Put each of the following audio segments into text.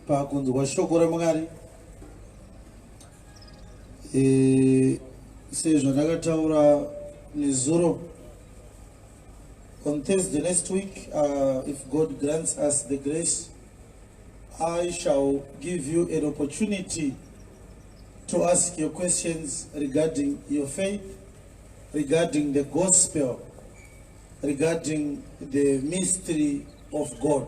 pakunzwa shoko ramwari e, sezvandakataura nezuro on thursday next week uh, if god grants us the grace i shall give you an opportunity to ask your questions regarding your faith regarding the gospel regarding the mystery of god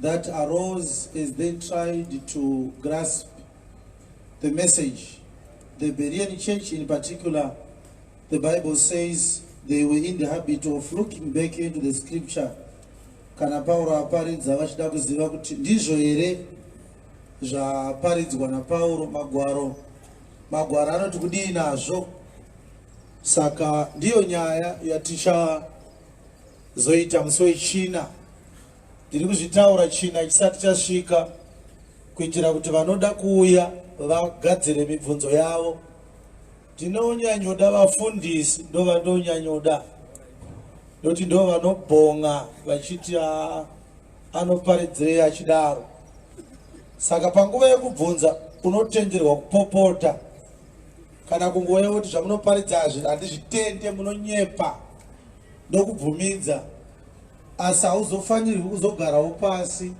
that arose as they tried to grasp the message. The Berean church in particular, the Bible says they were in the habit of looking back into the scripture. Kana Pauro aparidza vachida kuziva kuti ndizvo here zvaparidzwa naPauro magwaro. Magwaro anoti kudii nazvo. Saka ndiyo nyaya yatichazoita musi wechina Ndiri kuzvitaura china chisati chasvika kuitira kuti vanoda kuuya vagadzire mibvunzo yavo. Ndinonyanyoda vafundisi ndovandonyanyoda noti ndo vanobhonga vachiti ah, anoparidzirei achidaro saka panguva yekubvunza unotenderwa kupopota kana kungoya kuti zvamunoparidza hazvi handizvitende munonyepa ndokubvumidza Asi hauzofanirwi kuzogarawo pasi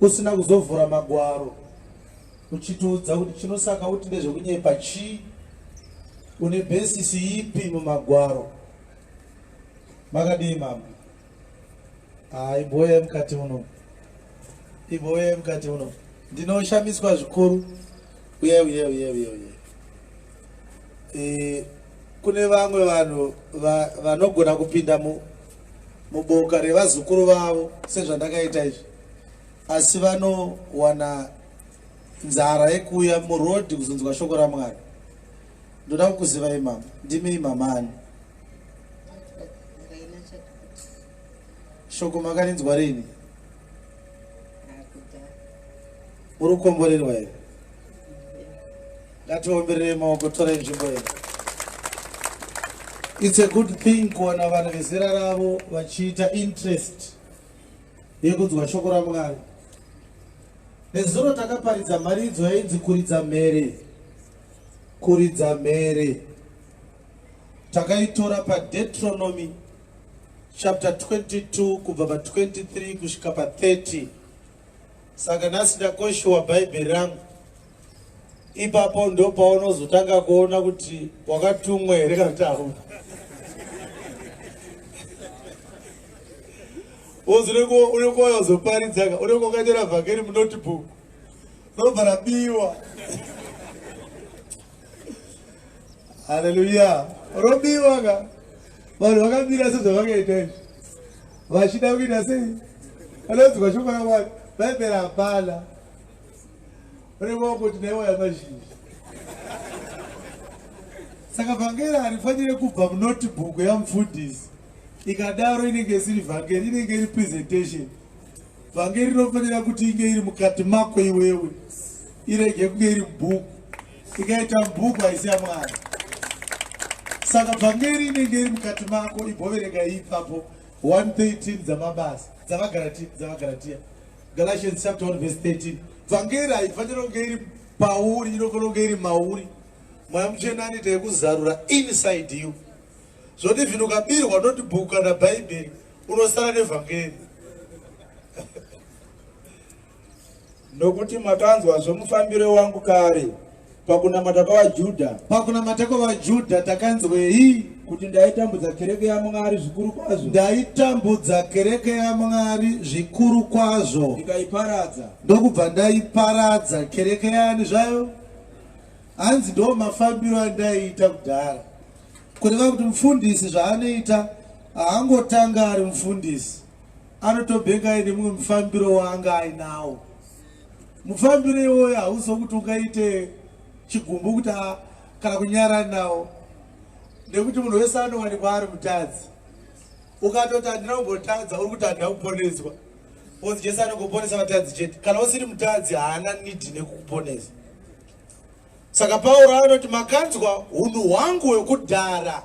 usina kuzovhura magwaro uchitiudza kuti chinosaka kuti ndezvekunyepa chii une besisi ipi mumagwaro makadii mama haa iboya mukati uno iboya mukati uno ndinoshamiswa zvikuru uye uye uye uye uye e, kune vamwe vanhu va, vanogona kupinda mu, muboka revazukuru vavo sezvandakaita izvi asi vanowana nzara yekuuya murodhi kuzonzwa shoko ramwari ndoda kukuzivai mama ndimi mamani shoko makarinzwa rini Uri kukomborerwa here? Ngatiomberere maoko tora nzvimbo here. It's a good thing kuona vanhu vezera ravo vachiita interest yekunzwa shoko raMwari. Nezuro takaparidza mharidzo yainzi kuridza mhere. Kuridza mhere. Takaitora paDeuteronomy chapter 22 kubva pa 23 kusvika pa 30. Saka nhasi ndakoshiwa bhaibheri rangu. Ipapo ndopaunozotanga kuona kuti wakatumwa here kana kuti hauna. Wozoneko uneko wazoparidzaka uneko wakaitira vhakeri munotebook. Robva rabiwa. haleluya robiwa ka vanhu vakamira sezvavakaita izvi vachida kuita sei vanonzwa shoko ramwari bhaibheri hapana revakuti naiwaya mazhinji saka vhangeri harifanire kubva munotibhuku yamufundisi ikadaro inenge isiri vhangeri inenge iri presentation vhangeri rinofanira kuti inge iri mukati mako iwewe irege kunge iri bhuku ikaita bhuku haisi yamwari saka bvangeri inenge iri mukati mako iboverega ipapo 113 dzamabasa dzavagaratiya dzavagaratiya galatians chapter 1 verse 13 bvangeri haifanira kunge iri pauri inofanira kunge iri mauri mweya muchena anoita yekuzarura inside you zvoti vhino ukabirwa noti bhuku kana bhaibheri unosara nevhangeri Nokuti makanzwa zvomufambiro wangu kare pakunamata kwavaJudha. Pakunamata kwavaJudha takanzwei? Kuti ndaitambudza kereke yaMwari zvikuru kwazvo. Ndaitambudza kereke yaMwari zvikuru kwazvo. Ndikaiparadza. Ndokubva ndaiparadza kereke yani zvayo? Hanzi ndo mafambiro andaiita kudhara. Kureva kuti mufundisi zvaanoita haangotanga ari mufundisi. anotobhenga aine mumwe mufambiro waanga ainawo mufambiro iwoyo hauziwo kuti ungaite chigumbu kuti kana kunyara nawo nekuti munhu wese anowanikwa ari mutadzi ukatoti handina kumbotadza uri kuti handina kuponeswa bcause jesu anongoponesa vatadzi chete kana usiri mutadzi haana nidi nekukuponesa Saka Pauro anoti makanzwa hunhu hwangu hwekudhara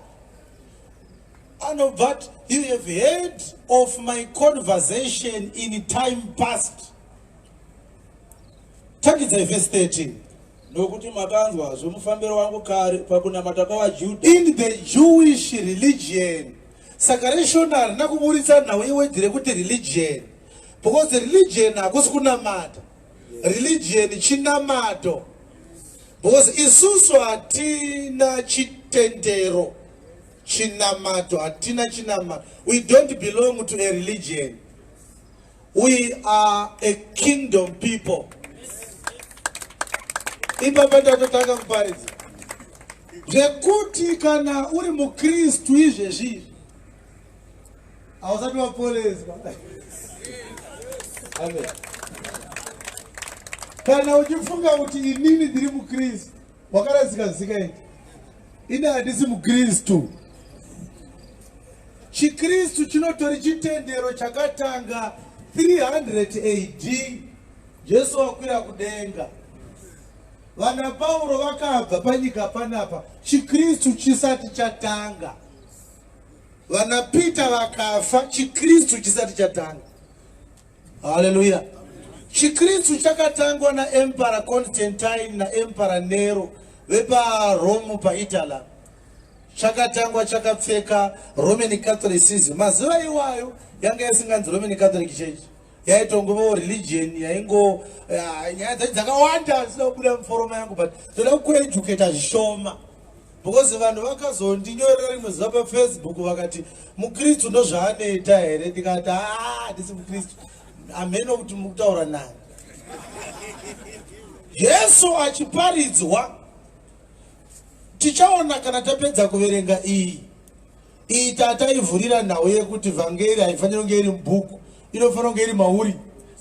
anobva ati you have heard of my conversation in time past tangidzai vhesi 13 nokuti makanzwa zvomufambiro wangu kare pakunamata kwavajudha in the jewish religion saka reshona harina kuburitsa nhau iwedhi rekuti religion because religion hakusi kunamata religion chinamato because isusu hatina chitendero chinamato hatina chinamato we don't belong to a religion we are a kingdom people ipapa tatotanga kuparidza zvekuti kana uri mukristu izvezvizvi Hausati waporeswa. Amen. Kana uchifunga kuti inini ndiri muKristu, wakaradzika zika iti. Ini handisi muKristu. ChiKristu chinotori chitendero chakatanga 300 AD. Jesu wakwira kudenga. Vana Pauro vakabva panyika panapa, ChiKristu chisati chatanga. Vana Peter vakafa chiKristu chisati chatanga. Haleluya. ChiKristu chakatangwa na Emperor Constantine na Emperor Nero vepa Rome pa Italy. Chakatangwa chakapfeka Roman Catholicism. Mazuva iwayo yanga isinganzi Roman Catholic Church. yaitongovawo religion yaingo eh, nyaya dzacho dzakawanda zvisina kubuda muforoma yangu but toda kukueducata zvishoma because vanhu vakazondinyorera rimwe zuva pafacebook vakati mukristu ndozvaanoita here ndikati haa ndisi mukristu hameno kuti mukutaura naye jesu achiparidzwa tichaona kana tapedza kuverenga iyi iyi tataivhurira nhau yekuti vhangeri haifanira kunge iri mubhuku inofanira kunge iri mauri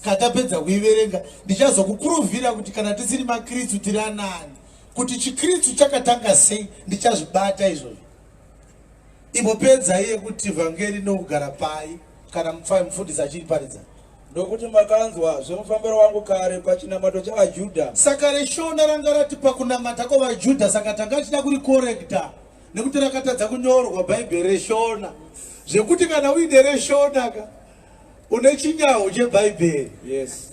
katapedza kuiverenga ndichazokukuruvhira kuti kana tisiri makristu tiri anani kuti chikritsu chakatanga sei ndichazvibata izvozvo imopedzai yekuti vhangeri nokugara pai kana mupfai mufundisi achiriparidza ndokuti makanzwa zvemufambiro wangu kare pachinamato chavajuda saka reshona ranga rati pakunamata kwavajuda saka tanga tichida kurikorekta nekuti rakatadza kunyorwa bhaibheri reshona zvekuti kana uine reshona ka une chinyaho chebhaibheri yes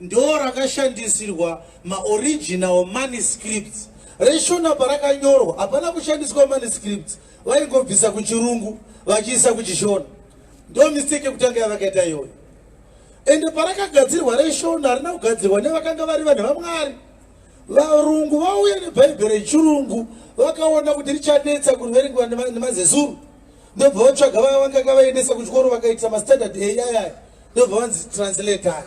ndorakashandisirwa maoriginal manuscripts reshona parakanyorwa hapana kushandiswa manuscripts vaingobvisa kuchirungu vachiisa kuchishona ndo mistake yekutanga yavakaita iyoyo ende parakagadzirwa reshona harina kugadzirwa nevakanga vari vanhu vamwari varungu vauya nebhaibheri rechirungu vakaona kuti richanetsa kuverengwa nemazezuru ndobva vatsvaga vaya vanganga vaendesa kuchikoro vakaitisa mastandard eyayayo ndobva vanzi translator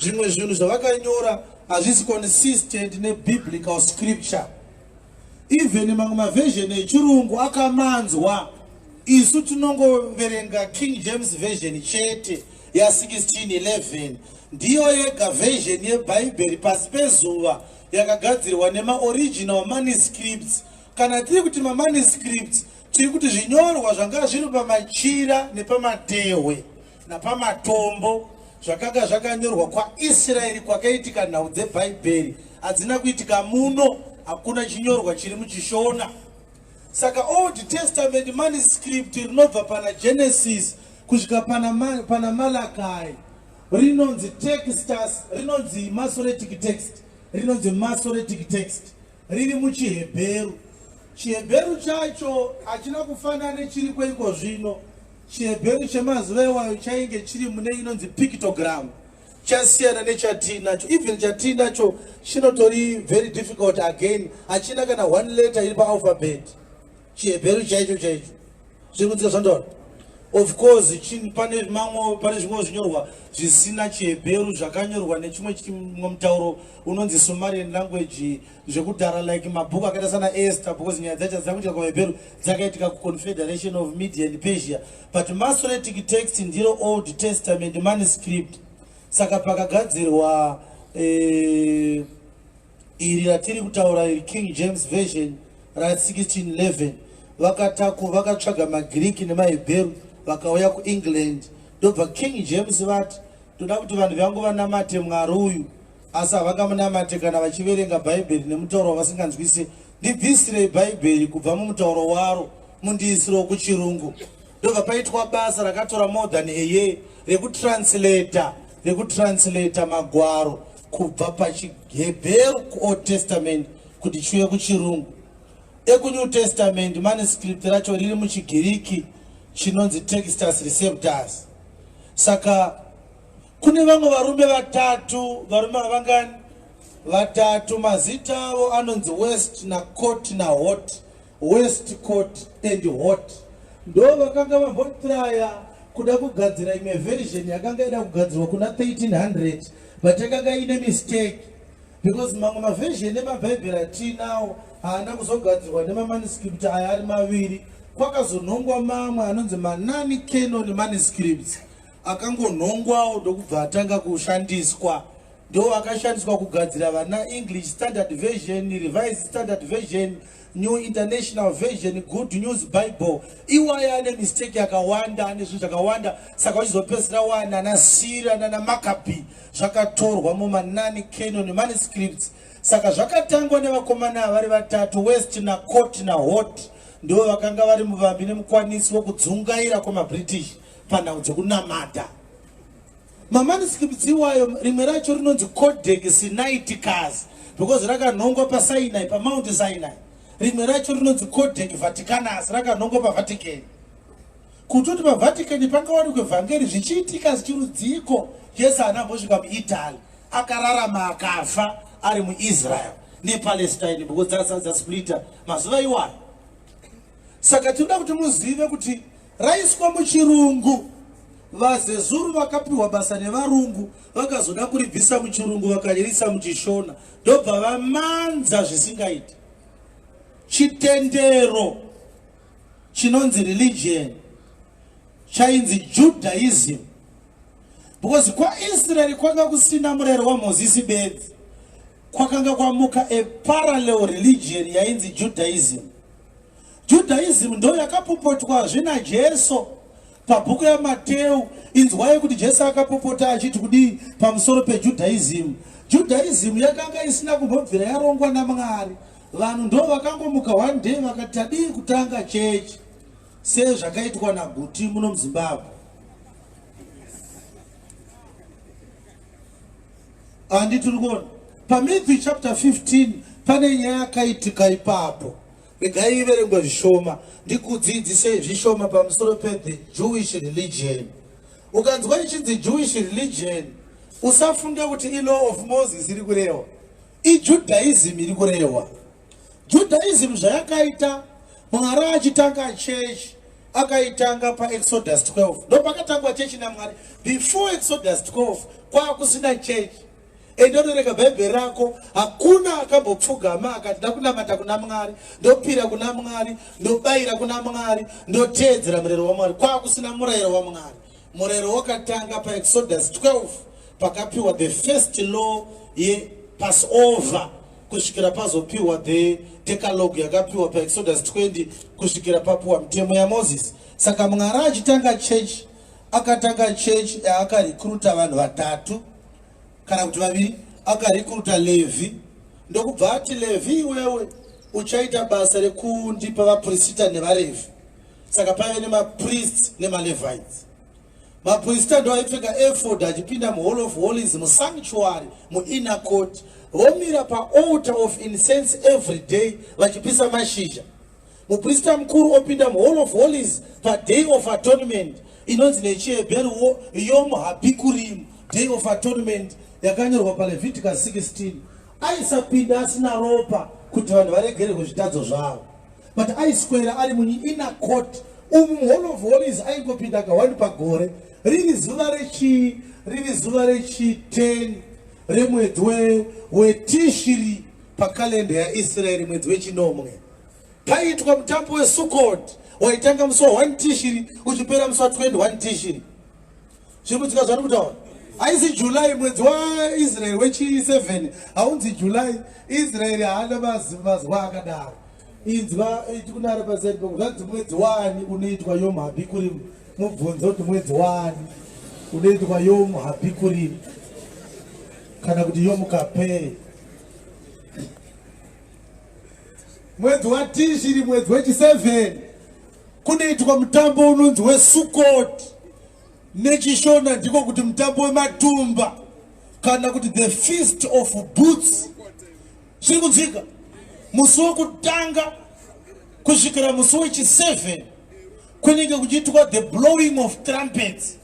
zvimwe zvinhu zvavakanyora hazvisi consistent nebiblical scripture even mamwe maversion echirungu akamanzwa isu tinongoverenga king james version chete ya1611 ndiyo yega version yebhaibheri pasi pezuva yakagadzirwa nemaoriginal manuscripts kana tiri kuti mamanuscripts tiri kuti zvinyorwa zvanga zviri pamachira nepamatehwe napamatombo zvakanga zvakanyorwa kwaisraeri kwakaitika nhau dzebhaibheri hadzina kuitika muno hakuna chinyorwa chiri muchishona saka old testament manuscript rinobva pana genesis kusvika pana, ma, pana malakai rinonzi textus rinonzi masoretic text rinonzi masoretic text riri muchihebheru chihebheru chacho hachina kufanana nechiri kweiko zvino ChiHebheru chemazuva iwayo chainge chiri mune inonzi pictogram, chasiyana nechatiinacho. Even chatiinacho chinotori very difficult again, hachina kana one letter iri paalphabet. ChiHebheru chaicho chaicho zviri kunzika zvandora of course pane mamwe pane zvimwe zvinyorwa zvisina chihebheru zvakanyorwa nechimwe chimwe mutauro unonzi sumarian language zvekudhara like mabhuku akaita sana ester because nyaya dzacho hadzina kuitika kuvaebheru dzakaitika kuconfederation of media and persia but masoretic text ndiro old testament manuscript saka pakagadzirwa eh, iri ratiri kutaura iri king james version ra 1611 vakataku vakatsvaga magiriki nemaebheru vakauya kuengland ndobva king james vati toda kuti vanhu vangu vanamate mwari uyu Asi havangamunamate kana vachiverenga Bhaibheri nemutauro wavasinganzwise. Ndibvisirei Bhaibheri kubva mumutauro waro mundiisirewo kuChirungu. Ndobva paitwa basa rakatora more than a year rekutranslata rekutranslata magwaro kubva pachiHebheru kuOld Testament kuti chiuye kuChirungu. EkuNew Testament manuscript racho riri muchiGiriki chinonzi Textus Receptus. Saka Kune vamwe varume vatatu, varume avangani vatatu, mazita avo anonzi West na Court na Hot, West Court and Hot, ndo vakanga vambotraya kuda kugadzira imwe version yakanga ida kugadzirwa kuna 1300 but yakanga ine mistake because mamwe maversion emabhaibheri atiinawo haana kuzogadzirwa nemamaniscript aya ari maviri kwakazonhongwa mamwe anonzi manani canon maniscripts akangonhongwawo ndokubva atanga kushandiswa ndo akashandiswa kugadzira vana english standard version revised standard version new international version good news bible iwaya ane mistake yakawanda ane zvinhu zvakawanda saka vachizopedzisira wana ana sira nana makabi zvakatorwa mumanani canon manuscripts saka zvakatangwa nevakomana vari vatatu west nacot nahot ndivo vakanga vari muvambi nemukwanisi wekudzungaira kwemabritish panhau dzekunamata mamaniskipti iwayo rimwe racho rinonzi codex sinaiticas because rakanhongwa pasinai pamount sinai rimwe racho rinonzi codex vaticanus rakanhongwa pavatican kutoti pavatican pangawanikwe vhangeri zvichiitika zvichirudziiko jesu haana mbosvika muitaly akararama akafa ari muisrael nepalestine because dzasplita mazuva iwayo saka tinoda kuti muzive kuti Raiswa muchirungu. VaZezuru vakapiwa basa nevarungu vakazoda kuribvisa muchirungu vakariisa muchishona ndobva vamanza zvisingaiti. Chitendero chinonzi religion chainzi Judaism because kwaIsrael kwanga kusina murayiro waMozisi bedzi kwakanga kwamuka a parallel religion yainzi Judaism. Judaism ndo yakapopotwazve naJesu pabhuku yaMateu. Inzwai kuti Jesu akapopota achiti kudii pamusoro peJudaism. Judaism yakanga isina kumbobvira yarongwa naMwari. Vanhu ndo vakangomuka one day vakati tadii kutanga chechi sezvakaitwa naGuti muno muZimbabwe. Handi tiri kuona paMatthew chapter 15 pane nyaya yakaitika ipapo. Regai iverengwe zvishoma ndikudzidzise zvishoma pamusoro pethe Jewish religion. Ukanzwa ichinzi Jewish religion usafunge kuti ilaw of Moses iri kurehwa. IJudaism iri kurehwa. Judaism zvayakaita Mwari achitanga church akaitanga paExodus 12. Ndopakatangwa church naMwari. Before Exodus 12 kwakusina church. ende unoverenga bhaibheri rako hakuna akambopfugama akati ndakunamata kuna mwari ndopira kuna mwari ndobayira kuna mwari ndoteedzera murero wamwari kwakusina murayiro wamwari murayiro wakatanga paexodus 12 pakapiwa the first law yepassover kusvikira pazopiwa the decalogue yakapiwa paexodus 20 kusvikira papiwa mitemo yamoses saka mwari achitanga chechi akatanga chechi yaakarekruta vanhu vatatu kana kuti vaviri akarikuruta levhi ndokubva ati levhi iwewe uchaita basa rekundipa vaprisita nevarevhi saka paive nemaprist nemalevites maprisita ndo aipfeka efod achipinda muhall of hollies musanctuary muinner court vomira paalter of incense every day vachipisa mashizha Muprista mukuru opinda muHall of Holies paDay of Atonement inonzi nechiHebheru Yom HaBikurim, Day of Atonement, yakanyorwa paLeviticus 16. Aisapinda asina ropa kuti vanhu varegere kuzvitadzo zvavo, but aiswera ari muinner court umu muHall of Holies aingopinda kawani pagore, riri zuva rechi riri zuva rechi 10 remwedzi weTishiri pakalenda yaIsraeri, mwedzi wechinomwe. Paiitwa mutambo weSukkot waitanga musi wa 1 Tishiri uchipera musi wa 21 Tishiri. Zviri kudzika zvati kutaura. Haisi July mwedzi waIsrael wechi 7 haunzi July. Israel haana mazuva akadaro. Inzwa iti kunara pasaidi pangu zvanzi mwedzi wani unoitwa Yom Habikurim. Mubvunzo kuti mwedzi wani unoitwa Yom Habikurim kana kuti Yom Kapei. Mwedzi waTishiri mwedzi wechi 7 kunoitwa mutambo unonzi wesukoti nechishona ndiko kuti mutambo wematumba kana kuti the feast of boots zviri kunzwika musi wekutanga kusvikira musi wechi 7 kunenge kuchiitwa the blowing of trumpets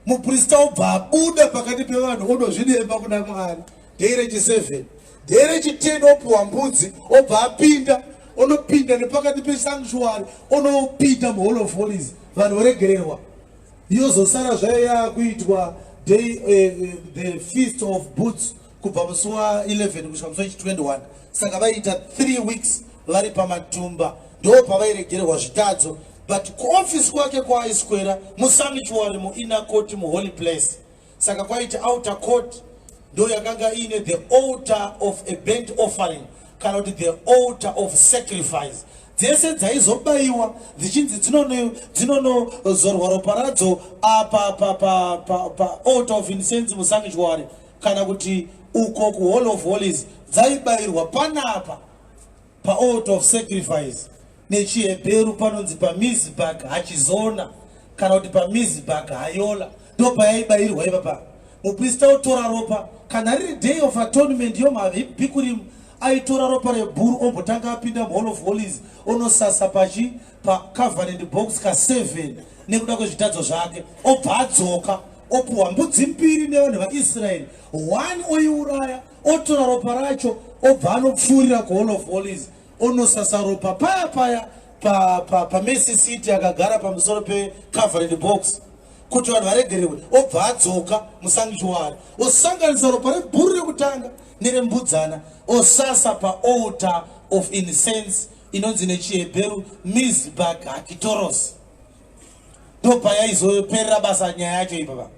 muprista obva abuda pakati pevanhu odozvidemba kuna mwari dhei rechi7 dhei rechi10 opiwa mbudzi obva apinda onopinda nepakati pesanctuary onopinda muhall of holies vanhu voregererwa yozosara zvayo yaakuitwa day uh, the feast of boots kubva musi wa 11 kusvika musi wechi 21 saka vaiita 3 weeks vari pamatumba ndo pavairegererwa zvitadzo but kuofisi kwake kwaaiswera musamichuari muina court muholy place saka kwaiti outer court ndo yakanga iine the altar of a bent offering kana kuti the altar of sacrifice dzese dzaizobayiwa dzichinzi dzinonozorwa ropa radzo apa ah, paaltar of incense musamichuari kana kuti uko kuhall of holies dzaibayirwa panapa paalt of sacrifice nechihebheru panonzi pamizibag hachizona kana kuti pamizibag hayola ndopayaibayirwa ipapa muprista otora ropa kana riri day of atonement yomabhikurimu aitora ropa rebhuru ombotanga apinda muhall of holies onosasa pachi pacovenant box ka 7 nekuda kwezvitadzo zvake obva adzoka opuhwa mbudzi mbiri nevanhu vaisraeri one oiuraya otora ropa racho obva anopfuurira kuhall of holies onosasa ropa paya paya pamesi pa, pa city akagara pamusoro pecovenant box kuti vanhu varegererwe obva adzoka musanctuary osanganisa ropa rebhuru rekutanga nerembudzana osasa paoltar of incense inonzi nechiHebheru Mizbag Hakitoros. Ndopayaizoperera basa nyaya yacho ipapa.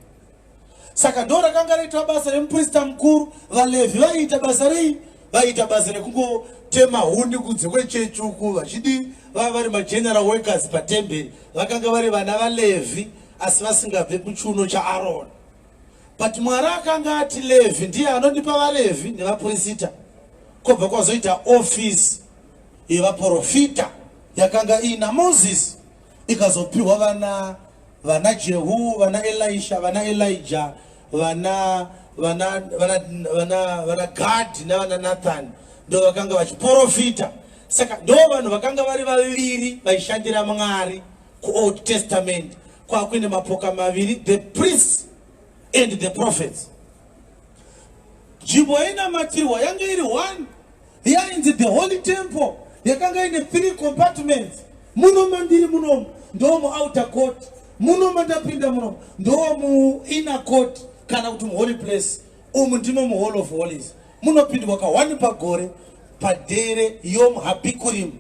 Saka ndo rakanga raitwa basa remuprista mukuru, vaLevhi vaiita basa rei? Vaiita basa rekungotema huni kunze kwechechi uku vachidii? Vava vari mageneral workers patemberi, vakanga vari vana vaLevhi asi vasingabve kuchiuno chaAroni. But Mwari akanga ati Levhi ndiye anondipa vaLevhi nevaprista, kobva kwazoita office yevaporofita yakanga iina moses ikazopiwa vana vana jehu vana elisha vana elija vana vana vana vana vana gadhi navana nathani ndo vakanga vachiporofita saka ndo vanhu vakanga vari vaviri vaishandira mwari kuold testament kwakuine mapoka maviri the priests and the prophets nzvimbo yainamatirwa yange iri one yainzi the holy temple yakanga ine three compartments muno mandiri munomu ndo muouter court muno mandapinda munomu ndo muinner court kana kuti muholy place umu ndimo muhall of holies munopindwa kahwani pagore padere yom habikurim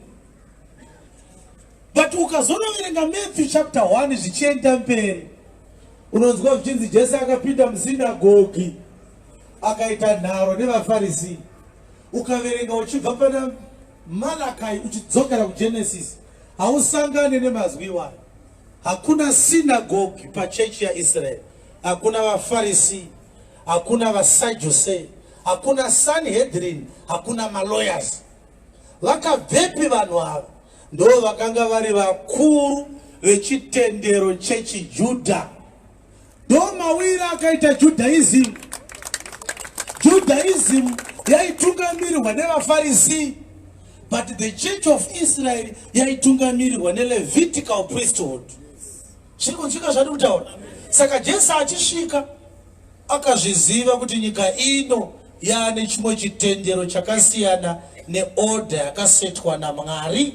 but ukazonoverenga matthew chapter 1 zvichienda mberi unonzwa zvichinzi jesu akapinda musinagogi akaita nharo nevafarisi ukaverenga uchibva pana malakai uchidzokera kugenesis hausangane nemazwi iwayo hakuna sinagogi pachechi yaisraeri hakuna vafarisi hakuna vasajuse hakuna sanhedrin hakuna malawyers vakabvepi vanhu ava ndo vakanga vari vakuru vechitendero chechijudha ndomawira akaita judaism judaism yaitungamirirwa nevafarisii but the church of israel yaitungamirirwa nelevitical priesthood zviri kunzwika zvati kutaura saka jesu achisvika akazviziva kuti nyika ino yaane chimwe chitendero chakasiyana neorder yakasetwa namwari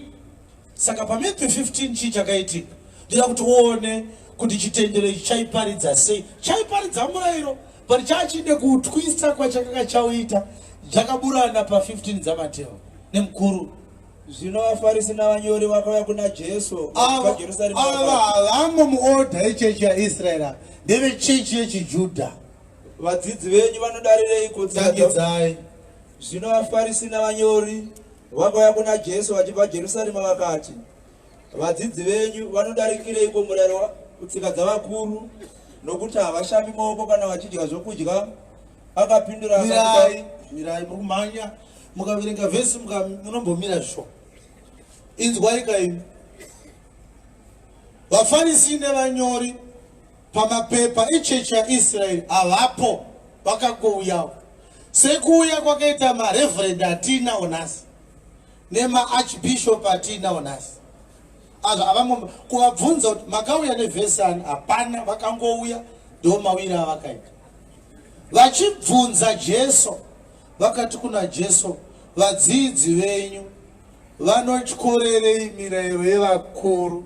Saka pamidhwi 15 chii chakaitika? Ndoda kuti uone kuti chitendero ichi chaiparidza sei. Chaiparidza murayiro, but chachide kuutwisa kwachakanga chauita. Chakaburana pa 15 dzaMateo nemukuru. Zvino vaFarisi navanyori vakauya kuna Jesu vaJerusarema. Ava havamo muodha echechi yaIsraeri, ndevechechi yechiJudha. Vadzidzi venyu vanodarireiko? Tsangidzai. Zvino vaFarisi navanyori Vakauya kuna Jesu vachibva Jerusarema vakati, Vadzidzi venyu vanodarikireiko murayiro kutsika dzavakuru, nokuti havashambi maoko kana vachidya zvokudya? Akapindura akati, Mirai, muri kumhanya, mukaverenga vhesi munombomira zvisho. Inzwai kaimi. VaFarisi nevanyori Pamapepa echechi yaIsrael havapo vakangouyawo sekuuya kwakaita mareverend atiinawo nhasi nemaarchbishop atiinawo nhasi azvo avangomba kuvabvunza kuti makauya nevhesi ani hapana vakangouya ndo mawiri avakaita vachibvunza jesu vakati kuna jesu vadzidzi venyu vanotyorerei mirayiro yevakuru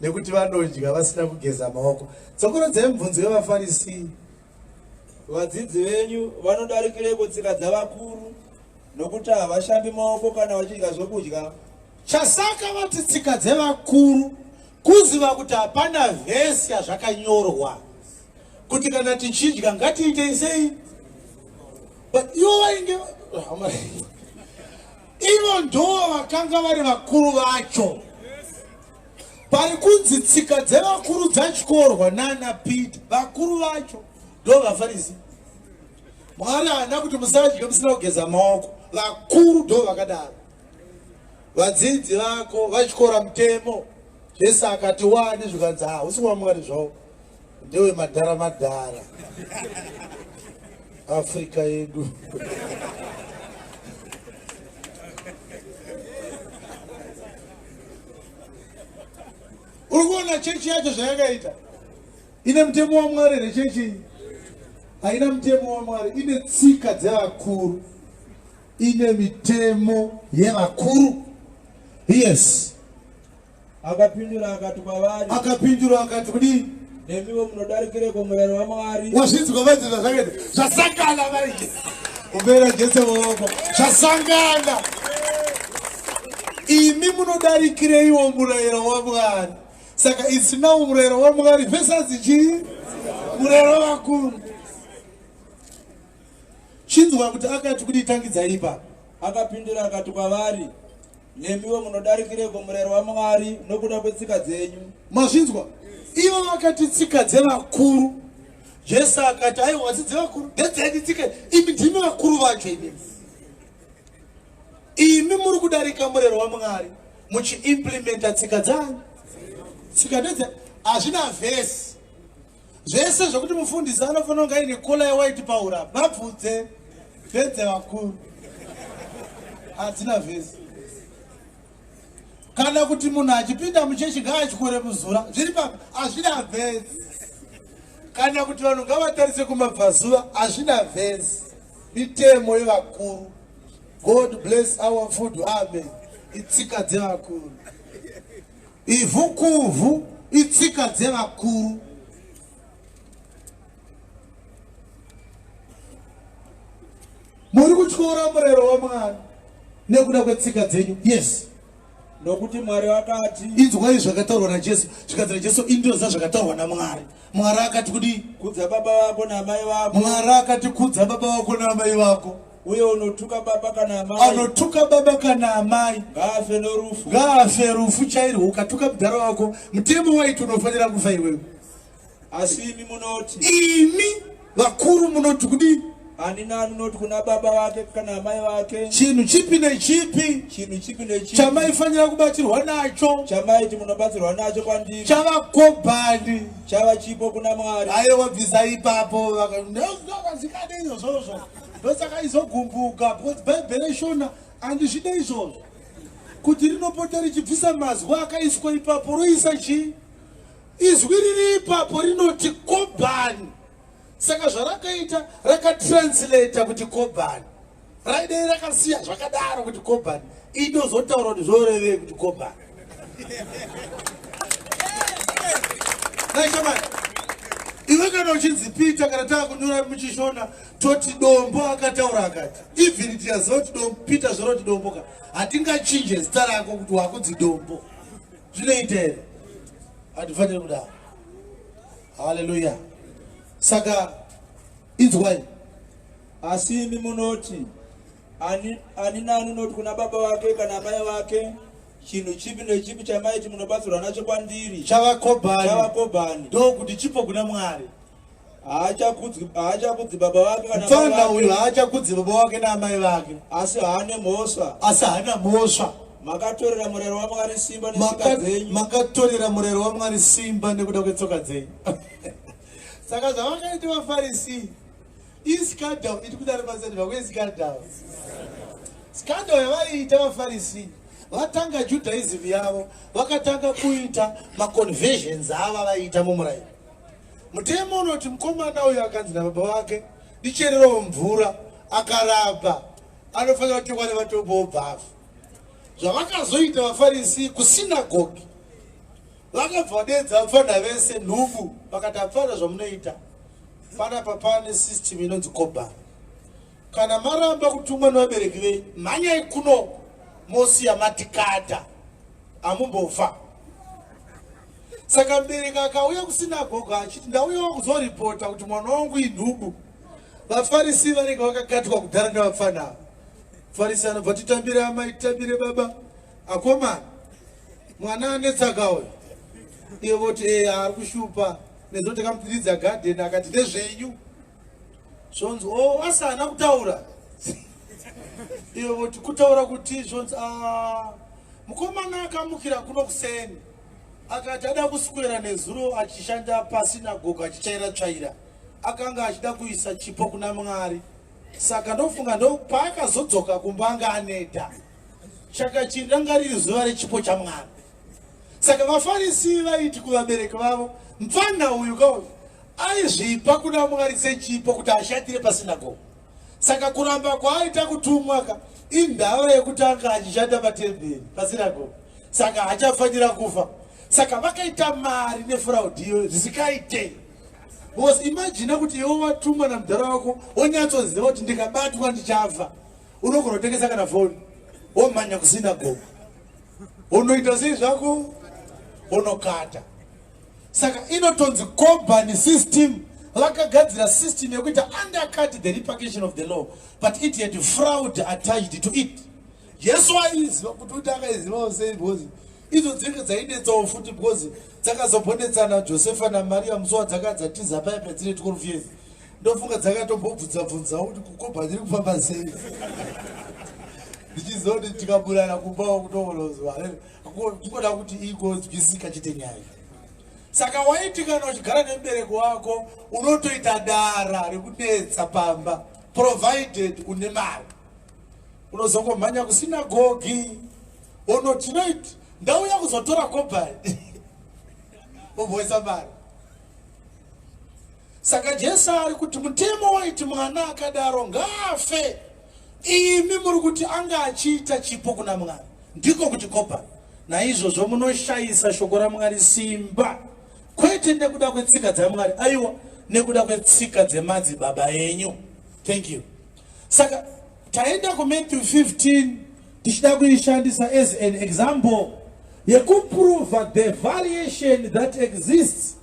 nekuti vanodya vasina kugeza maoko. Tsokorodzai mubvunzo wevaFarisi. Vadzidzi venyu vanodarikireko tsika dzavakuru nokuti havashambi maoko kana vachidya zvokudya. Chasaka vati tsika dzevakuru kuziva kuti hapana vhesi yazvakanyorwa kuti kana tichidya ngatiitei sei but ivo vainge ivo ndoo vakanga vari vakuru vacho Pari kunzi tsika dzevakuru dzatyorwa nana Peter. Vakuru vacho ndo vafarisi. Mwari haana kuti musadye musina kugeza maoko. Vakuru ndo vakadaro. Vadzidzi vako vatyora mutemo zvese akati wani zvikanzi hausi wamwari zvawo. Ndewe madhara madhara. Africa yedu. Urikuona chechi yacho zvayakaita. Ine mutemo waMwari here chechi iyi? Haina mutemo waMwari, ine tsika dzevakuru. Ine mitemo yevakuru. Yes. Akapindura akati kwavari. Akapindura akati kudii? Nemiwo munodarikireko murayiro waMwari. Wazvinzwa vaiti zvazvakaita zvasangana vaiti. Kubera Jesu maoko zvasangana. Imi munodarikireiwo murayiro waMwari. Saka isinawo murayiro waMwari versus chii? Murayiro wakuru. Chinzwa kuti akati kudii tangidzai ipapo. Akapindura akati kwavari, Nemiwo munodarikireko murayiro waMwari nokuda kwetsika dzenyu? Mazvinzwa? Ivo vakati tsika dzevakuru. Jesu akati, aiwa dzi dzevakuru, ndedzedu tsika, imi ndimi vakuru vacho imi. Imi muri kudarika murayiro waMwari muchiimplimenta tsika dzanyu. Tsika ndedze hazvina vhesi. Zvese zvekuti mufundisi anofanira kunge aine kola yewhite paura vabvudze vedze vakuru hadzina vhesi kana kuti munhu achipinda muchechi ngaatyore muzura zviri papa hazvina vhesi kana kuti vanhu ngavatarise kumabvazuva hazvina vhesi mitemo yevakuru god bless our food amen itsika dzevakuru Ivhu kuvhu itsika dzevakuru. Muri kutyora murero waMwari nekuda kwetsika dzenyu. Yes. Nokuti Mwari wakati. Inzwai zvakataurwa naJesu. Zvikanzi naJesu indoza zvakataurwa naMwari. Mwari akati kudii? Kudza baba vako namai vako. Mwari akati kudza baba vako namai vako. uye unotuka baba kana amai anotuka baba kana amai ngaafe norufu ngaafe rufu chairwo ukatuka mudhara wako mutemo waiti unofanira kufa iwewe asi imi munoti imi vakuru munoti kudii ani nani unoti kuna baba vake kana amai vake chinhu chipi nechipi chinhu chipi nechipi chamaifanira kubatsirwa nacho chamaiti munobatsirwa nacho kwandiri chava kobhani chava chipo kuna mwari ayewa bvisa ipapo vakazikadei zvozvo ndosaka izogumbuka because bhaibheri ishona andizvide izvozvo kuti rinopota richibvisa mazwi akaiswa ipapo roisa chii izwi riri ipapo rinoti kobhani saka zvarakaita rakatranslata kuti kobhani raidei rakasiya zvakadaro kuti kobhani inozotaura kuti zvorevei kuti kobhani naishamani iwe kana uchinzi pita kana taakunyora muchishona toti dombo akataura akati even tiyaziva kuti dombo peter zvoroti dombo ka hatingachinje zita rako kuti wakudzi dombo zvinoita here hatifaniri kudaro haleluya saka inzwai asi imi munoti ani, ani nani unoti kuna baba wake kana amai wake chinhu chipi nechipi chamaiti munobatsirwa nacho kwandiri chavakobani ndokuti chipo kuna mwari haachakudzi haachakudzi baba vake kana mfana baba uyu vake haachakudzi baba wake naamai vake asi haane mhosva asi haana mhosva makatorera murero wamwari simba netsoka Maka- dzenyu makatorera murero wamwari simba nekuda kwetsoka dzenyu saka zvavakaita vafarisi iskandal iri kudari pasendiva kwe skandal skandal yavaiita vafarisi vatanga judaism yavo vakatanga kuita maconversions ava vaiita mumurayiro Mutemo unoti mukomana uyu akanzi nababa vake ndichererewo mvura akaramba anofanira kutengwa nematombo obvafu zvavakazoita vafarisi kusinagogi vakabva vadedza vapfana vese nhubu vakati apfana zvamunoita panapa pane system inonzi koba kana maramba kutumwa nevabereki vei mhanyai kuno mosiya matikata amumbofa saka mbereka akauya kusinagogo achiti ndauyawo kuzoripota kuti mwana wangu inhubu vafarisi vanenge vakakatwa kudhara nevapfana ava farisi anobva titambire amai titambire baba akomana mwana anetsaka uyo iye voti ee eh, ari kushupa nezoti kamupiridzi agadheni akati ndezvenyu zvonzi o oh, asi haana kutaura iwe voti kutaura kuti zvonzi ah, mukomana akamukira kuno kuseni akati ada kuswera nezuro achishanda pasinagogo achitsvaira tsvaira akanga achida kuisa chipo kuna mwari saka ndofunga ndo paakazodzoka kumba anga aneta chakachiri ranga riri zuva rechipo chamwari saka vafarisi vaiti kuvabereki vavo mfanha uyu ka uyu aizvipa kuna mwari sechipo kuti ashatire pasinagoga saka kuramba kwaaita kutumwa ka indava yekuti anga achishanda patemberi pasinagoga saka hachafanira kufa saka vakaita mari nefuraudiyo zvisikaite bcause imajina kuti iwe watumwa namudhara wako wonyatsoziva kuti ndikabatwa ndichafa unogona kutengesa kana foni womhanya kusinagoga unoita sei zvako unokata saka inotonzi kobani system vakagadzira system yekuita undercut the repercussion of the law but it had fraud attached to it jesu aiziva kuti uti akaizivawo sei because idzo dzinge dzainetsawo futi because dzakazobonetsana josefa namariya musowa dzakadzatiza paya padzine tikorufiezi ndofunga dzakatombobvunza bvunza kuti kukopa ndiri kufamba sei ndichiziva kuti tikaburana kumbawo kutoonozwa kungoda kuti igonzwisika chete nyaya saka waiti kana uchigara nemubereko wako unotoita dara rekunetsa pamba provided une mari unozongomhanya kusina gogi ono tinoit ndauya kuzotora kobhai omboisa mari saka jesu ari kuti mutemo waiti mwana akadaro ngaafe imi muri kuti anga achiita chipo kuna mwari ndiko kuti kopa naizvozvo munoshayisa shoko ramwari simba kwete nekuda kwetsika dzamwari aiwa nekuda kwetsika dzemadzibaba enyu thank you saka taenda kumatthew 15 tichida kuishandisa as an example yekuprova the variation that exists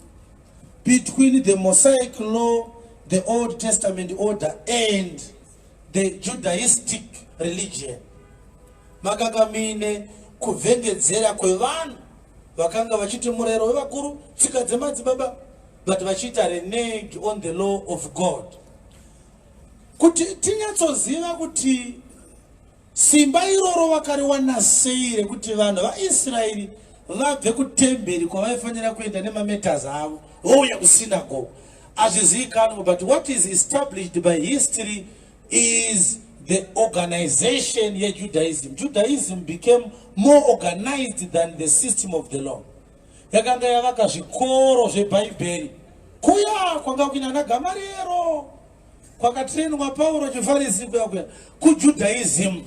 between the mosaic law the old testament order and the judaistic religion makanga muine kuvhengedzera kwevanhu vakanga vachiti murayiro wevakuru tsika dzemadzibaba but vachiita reneg on the law of god kuti tinyatsoziva kuti Simba iroro vakariwana sei rekuti vanhu vaIsraeri vabve kutemberi kwavaifanira kuenda nemameters avo vouya kusinagoga? Hazvizivikanwe, but what is established by history is the organization yeJudaism. Judaism became more organized than the system of the law. Yakanga yavaka zvikoro zveBhaibheri kuya kwanga kuina naGamariero. kwakatrainwa pauro chifarisi kuya kuya kujudaism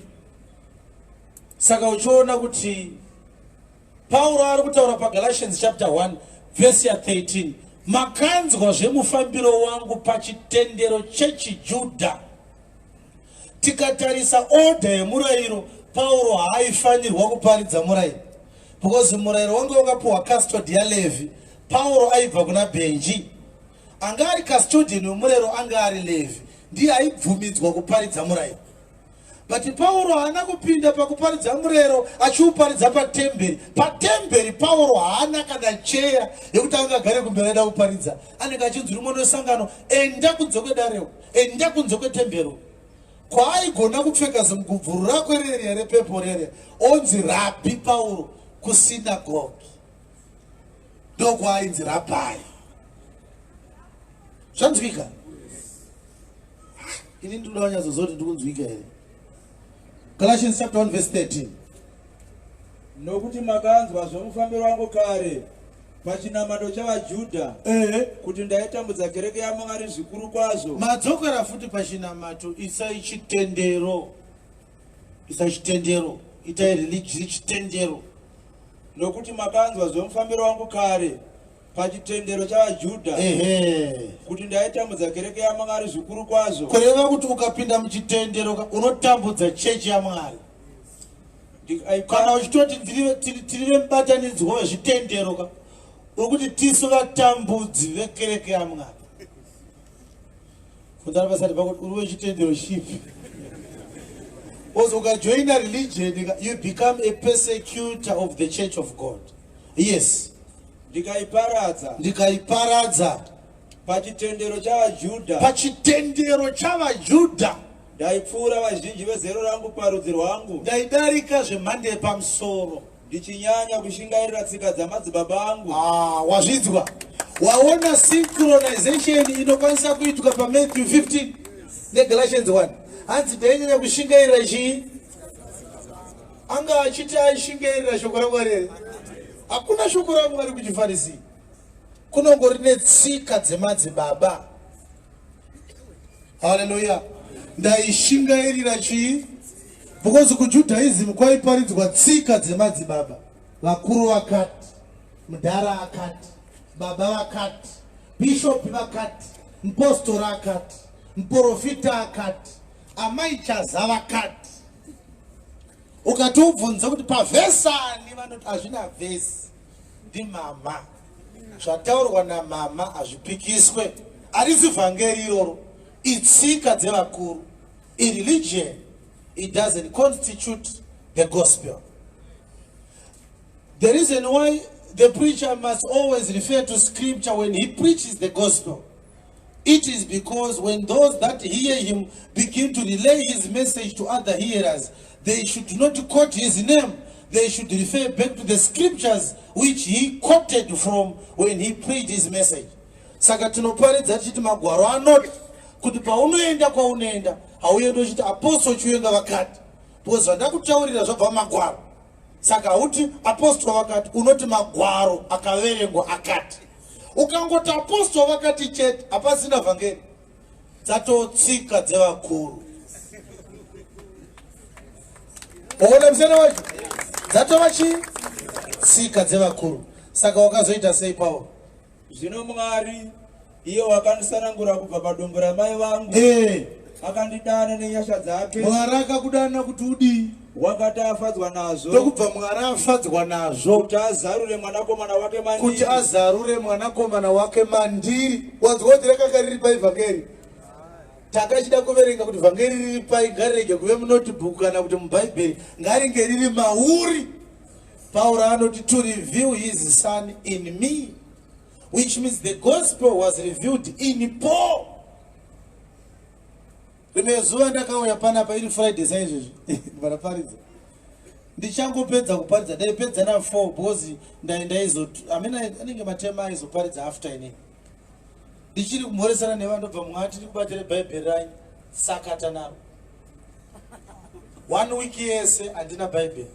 saka uchiona kuti pauro ari kutaura pagalatians chapter 1 vhesi ya 13 makanzwa zvemufambiro wangu pachitendero chechijudha tikatarisa odha yemurayiro pauro haaifanirwa kuparidza murayiro because murayiro wange wakapiwa custod yalevi pauro aibva kuna benji Anga ari kastodheni wemurero anga ari Levhi, ndiye aibvumidzwa kuparidza murairo. But Pauro haana kupinda pakuparidza murero achiuparidza patemberi. Patemberi Pauro haana kana cheya yekuti ange agare kumberi aida kuparidza. Anenge achinzi uri mwana wesangano, enda kunze kwedarewo, enda kunze kwetembero. Kwaaigona kupfeka zimugubvuru rako rerya repepo rerya, onzi rabhi Pauro kusinagogi. ndokwainzi rapai zvanzwika ini ndinoda wanyatsoziva kuti ndikunzwika here galatians chapter 1 verse 13 nokuti makanzwa zvomufambiro wangu kare pachinamato chavajudha ehe kuti ndaitambudza kereke yamwari zvikuru kwazvo madzokera futi pachinamato isai chitendero Isa chitendero, itai religion chitendero, nokuti makanzwa zvemufambiro wangu kare pachitendero chavaJudha kuti ndaitambudza kereke yaMwari zvikuru kwazvo. Kureva kuti ukapinda muchitendero unotambudza chechi yaMwari kana uchitoti tiri vemubatanidzwa wezvitendero ka uri kuti tisu vatambudzi vekereke yaMwari. kudara vasati vakuti uri wechitendero chipi bcause ukajoina religion you become a persecutor of the church of god yes ndikaiparadza ndikaiparadza pachitendero chavajudha pachitendero chavajudha ndaipfuura vazhinji vezero rangu parudzi rwangu ndaidarika zvemhande yepamusoro Ndichinyanya kushingairira tsika dzamadzibaba angu. Ah, wazvidzwa. Waona synchronization inokwanisa kuitwa pa Matthew 15 ne Galatians 1. Hanzi ndainyanya kushingairira chii? Anga achiti aishingairira shoko raMwari here? Hakuna shoko raMwari kuchifarisi. Kunongori netsika dzemadzibaba. haleluya ndaishingairira chii because kujudaism kwaiparidzwa tsika dzemadzibaba vakuru vakati mudhara akati baba vakati bishopi vakati mupostora akati muprofita akati amai chaza vakati ukati ubvunza kuti pavhesani vanoti hazvina vhesi ndimama zvataurwa namama hazvipikiswe arisi vhangeri iroro itsika dzevakuru ireligion it doesn't constitute the gospel the reason why the preacher must always refer to scripture when he preaches the gospel It is because when those that hear him begin to relay his message to other hearers, they should not quote his name. They should refer back to the scriptures which he quoted from when he preached his message. Saka tinoparidza tichiti magwaro anoti kuti paunoenda kwaunoenda hauende uchiti apostle chiwenga vakati because zvandakutaurira zvabva magwaro saka hauti apostol vakati unoti magwaro akaverengwa akati ukangoti apostol vakati chete hapasina vhangeri dzatotsika dzevakuru oona musana wacho dzatova chii tsika dzevakuru saka wakazoita sei pauro Zvino Mwari, iye wakandisanangura kubva padumbu ramai vangu, Eh, akandidana nenyasha dzake, Mwari akakudana kuti udii? wakati afadzwa nazvo, Ndokubva Mwari afadzwa nazvo kuti azarure mwanakomana wake kuti mandiri. azarure mwanakomana wake mandiri. Wanzwa kuti rakanga riri pai vhangeri? Takachida kuverenga kuti vhangeri riri pai, ngarirege kuve munotibhuku kana kuti mubhaibheri, ngaringe riri mauri. Pauro anoti to reveal his son in me which means the gospel was revealed in Paul. Rimwe zuva ndakauya panapa iri Friday saizvozvo vanaparidza ndichangopedza kuparidza ndaipedza na 4 because ndaizo I mean anenge matema aizoparidza after ini ndichiri kumhoresana nevanhu ndobva mumwe ati ndikubatire bhaibheri ranyu sakata naro one week yese handina bhaibheri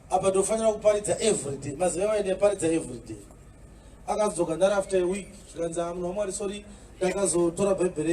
apa ndofanira kuparidza everyday maziva vaenda yaparidza everyday akadzoka ndari after a week zvikanzi amunhu wamwari sori ndakazotora bhaibheri